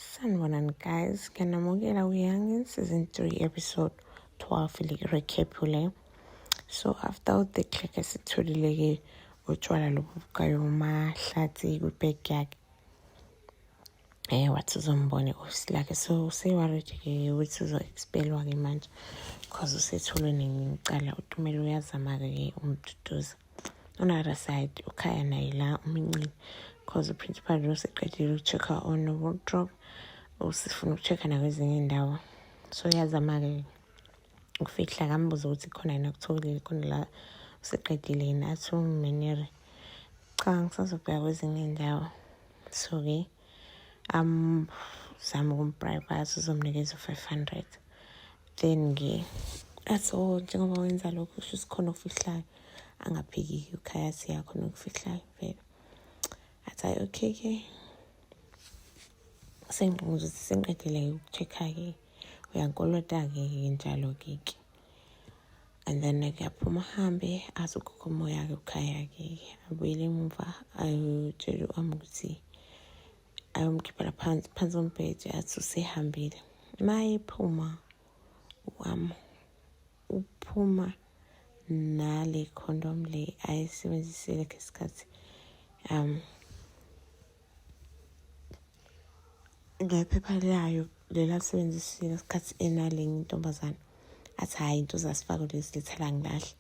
Sanibonani guys, ngiyanamukela kuYoungin season 3 episode 12 le recap le. So after all the click esitholile ke utshwala lobu bukayo mahlathi kwibag yakhe. Eh wathi uzombona i-office lakhe so useworried ke ukuthi uzo-expelwa-ke manje because usetholwe nencala utumela uyazama-ke ke umduduza. on other side ukhaya naye la umincile because uprincipal lo seqedile uku-check-a on wardrobe usifuna uku-check-a nakwezinye iy'ndawo so uyazama-ke ukufihla kambuza ukuthi khona yena kutholile khona la useqedile yini athi umenere cha ngisazobheka kwezinye iy'ndawo so-ke okay. um zama ukumbriba sizomnikeza u-five hundred then ke athi o oh, njengoba wenza lokho kusho sikhona okufihlayo angaphiki-ke ukhaya siyakhona okufihlayo vele athi hayi okay ke sengqongozo sisenqedile-ke uku-check-a-ke uyankolota-ke ke njalo-ke ke and then ngiyaphuma ahambe azi ugogo umoya ke ukhaya-ke abuyele emuva ayotshela u-am ukuthi ayomkhiphela phansi phansi kombhede athi usehambile ma ephuma u-am uphuma nale condom le ayisebenzisele khe sikhathi um ngephepha layo lela lisebenzisile ngesikhathi enalenye intombazane athi hhayi into zasifako lezi lithela ngilahle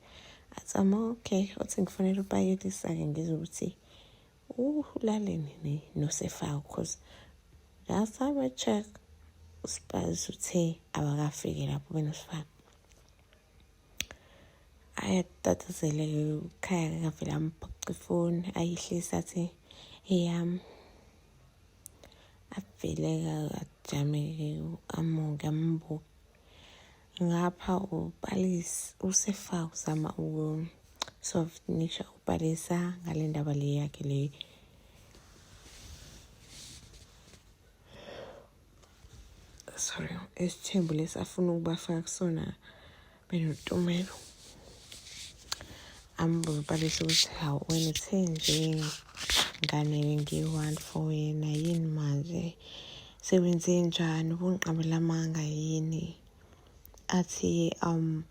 athi ama okay othi ngifanele upaketisa-ke ngizwe ukuthi ulaleni nosefako because last time i check usipazi uthe abakafiki lapho benosifako ayatatazele ukhaya ngavele amphoxa ifoni ayihlisa athi eyami avele ajame amuke ambuke ngapha upalis usefa uzama ukusofinisha upalisa ngale ndaba le yakhe leyo sorry esithembu lesi afuna ukubafaka kusona benotumelo ambuze ubalisa ukuthi hawu wena uthe nje ngane ngiyi-one for wena yini manje sewenze njani ubungiqabelamanga yini athi um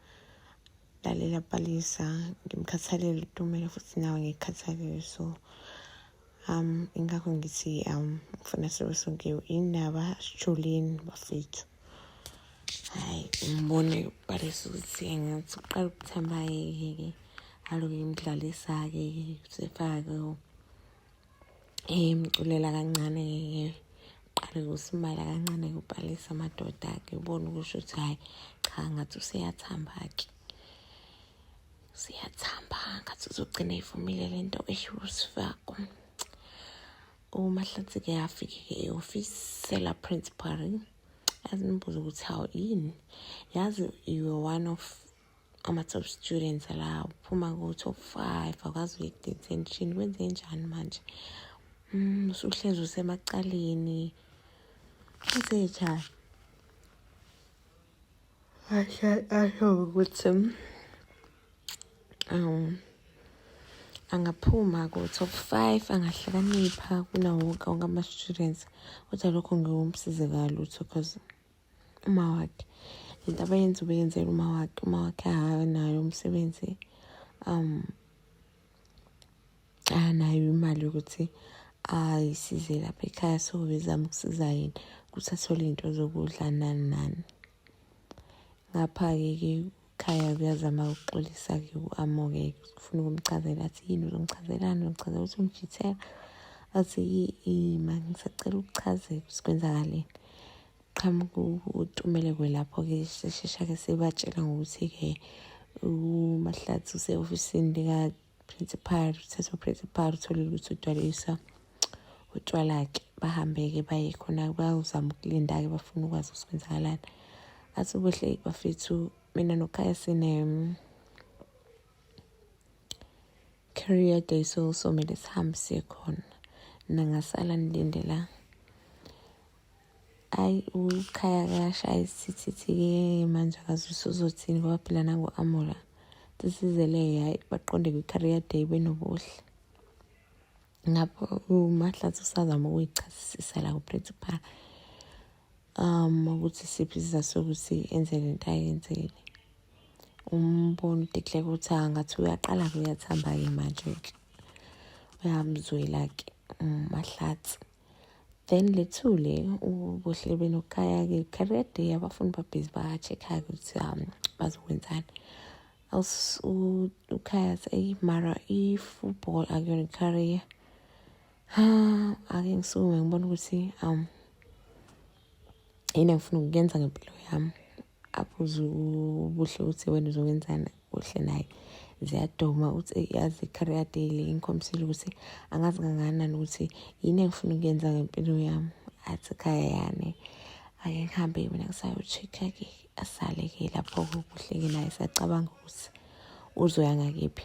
lalela balisa ngimkhathalele utumelo futhi nawe ngikhathalele so um ingakho ngithi um ngifuna sibe sonke indaba sijuleni bafethu hayi ngibone balisa ukuthi engathi uqala ukuthamba yeke aloke imdlalisake sefake emculela kancane ke uqale kusimala kancane kubhalisa amadoda ke ubone ukusho ukuthi hayi cha ngathi useyathamba ke siyathamba ngathi uzogcina ivumile le nto eshiwo sifako umahlathi-ke afike-ke e-ofisi sela-principal azimbuze ukuthi hawu yini yazi you are one of ama-top students la uphuma ku-top five akwazi uye-detention kwenze njani manje um usuhlezi usemacaleni kwenze njani Asho asho ukuthi um angaphuma ku-top five angahlakanipha kunawo wonke wonke ama-students kodwa lokho ngiwumsize kalutho because uma wakhe lento abayenza ubeyenzela uma wakhe uma wakhe akanayo umsebenzi um anayo imali yokuthi ayisize lapha ekhaya so bezama ukusiza yena ukuthi athole iy'nto zokudla nani nani ngapha-ke ke ekhaya kuyazama ukuxolisa-ke u-amoke kufuna ukumchazela athi yini uzongichazelani uzongichazela ukuthi ungijithela athi yi-ima ngisacela ukuchazela ukuthi kwenzakaleni qhamuka utumeleko lapho-ke sishesha-ke sibatshela ngokuthi-ke umahlathi use-ofisini likaprincipal uthetha uprincipal utholile ukuthi udwalisa utshwala-ke bahambe-ke baye khona bayozama ukulinda-ke bafuna ukwazi ukuthi kwenzakalani athi ubuhle bafethu mina nokhaya sine career day so somele sihambe siye khona nangasala nilindela ayi ukhaya kasha ayisithithike manje akazi usuzothini ngoba phela nangu-amula sisizele hhayi baqonde kwi-career day benobuhle ngapho umahlathi usazama ukuyichasisisa la kuprincipal um ukuthi siphi isizathu sokuthi enze le nto ayenzile umbona udekleka ukuthi angathi uyaqala-ke uyathamba-ke manje-ke uyamzwela-ke umahlathi mm, then lethule ubuhle benokukaya-ke career day abafundi babhizi ba-check-ake ukuthi um bazokwenzani ukhaya seyi mara i-football akuyona i-career ha ake ngisukume ngibona ukuthi um yini engifuna ukuyenza ngempilo yami abuze ubuhle ukuthi wena uzokwenzani kuhle naye ziyadoma uthi yazi i-career day le ingikhombisile ukuthi angazi kangakanani ukuthi yini engifuna ukuyenza ngempilo yami athi khaya yani ake ngihambe mina ngisayo-check-ke asale-ke lapho kuhle-ke naye sacabanga ukuthi uzoya ngakephi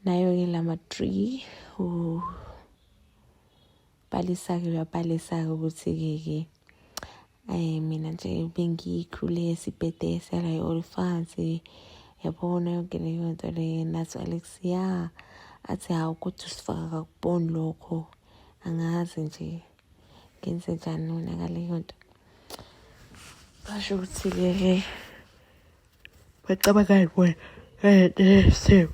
nayo-ke lama three ubhalisa-ke uyabhalisa-ke ukuthi-ke ke Ay mina nje bengikhule sibhede sala yolifansi yabona yonke leyo nto le nathi Alex ya athi hawu ukuthi usifaka kakuboni lokho angazi nje ngenze njani wona ngaleyo nto basho ukuthi ke bacabangani wena eh, eh,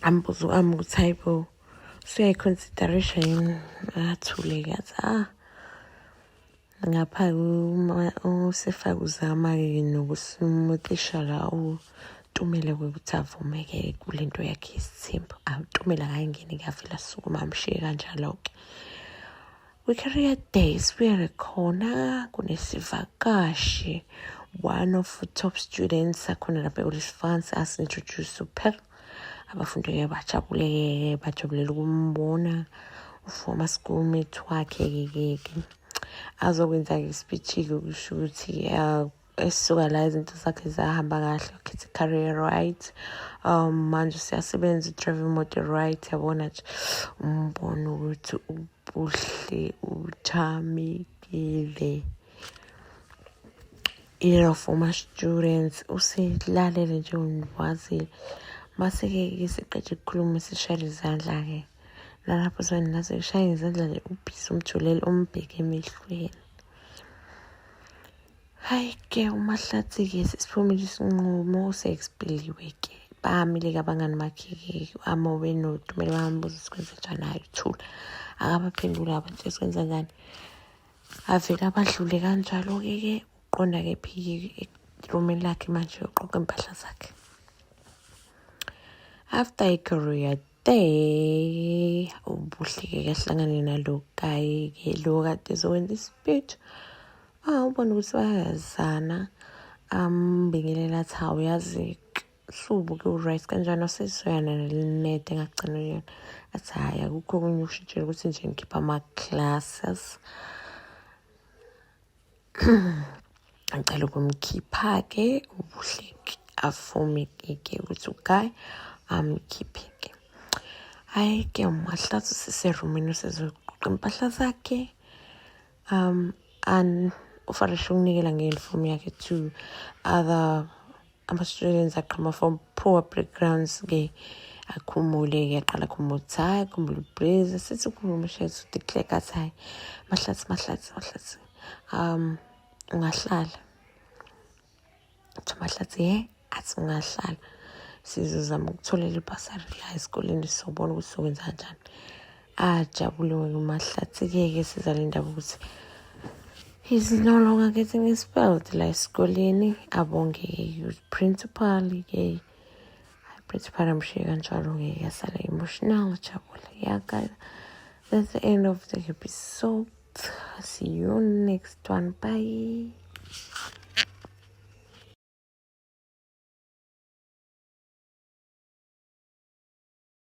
ambuzo ami ukuthi hayi bo usuyayiconsiderisha yini athuleke athi ah ngapha usefake uzama-ke nokuthi utishala utumele ukuthi avumeke kule nto yakhe yesithembu awutumele akangeni kuyavela sukuma amshiye kanjalo-ke We carry a day sibuyele khona kunesivakashi one of top students akhona lapha ekulisifansi asintroduce uphel abafundi-ke bajabuleke bajabulela ukumbona ufoma schoolmate wakhe-ke-ke azokwenza-ke isipitshi-ke kusho ukuthi esisuka la izinto zakhe zahamba kahle ukhetha i-career right um manje useyasebenza udrive imoto right yabona nje umbona ukuthi ubuhle uchamekile era for my students usilalele nje ungikwazile mase-ke ke siqeda ukukhuluma sishayela izandla-ke nalapho sona nase kushaya izandla nje ubhisi umjulele umbheke emehlweni Hayi ke uMahlathi-ke sesiphumile isinqumo sexpiliwe-ke bamile-ke abangani bakhe-ke amobe notumele bambuza sikwenze njani hayi uthula akabaphenduli abantu sikwenza njani avele abadlule kanjalo-ke ke uqonda-ke phike erumini lakhe manje uqoqa impahla zakhe after icareer Hey, ubuhleke kahlangane nalo kaye ke lo kade zokwenza isipithu. Ah, ubona ukuthi bayazana. Ambingelela um, thawu yazi hlubu ke uright kanjani wasesoyana nelinede engagcina yona athi hhayi akukho okunye ukushintshela ukuthi nje ngikhipha ama-classes ngicela ukumkhipha-ke ubuhleki afomekeke ukuthi uguy amkhipheke hhayi ke umahlathi usiserumini usezoqoqa impahla zakhe um and ufarishe ukunikela nge-uniform yakhe to other ama-students aqhama from poor backgrounds ke akhumule ke aqala khumula ukuthi hhayi khumbula ubreeze sithi khumbula umshethu declare kathi hhayi mahlathi mahlathi mahlathi um ungahlala kuthiwa mahlathi ye athi ungahlala sizozama ukutholela ibhasari la esikoleni sobona ukuthi sokwenza kanjani ajabule wena umahlathikeke sizalindaba ukuthi he's no longer getting his belt la esikoleni abongeke youth principal ke principal amshiye kanjalo ngeke asale emotional jabule yaka that's the end of the episode see you next one bye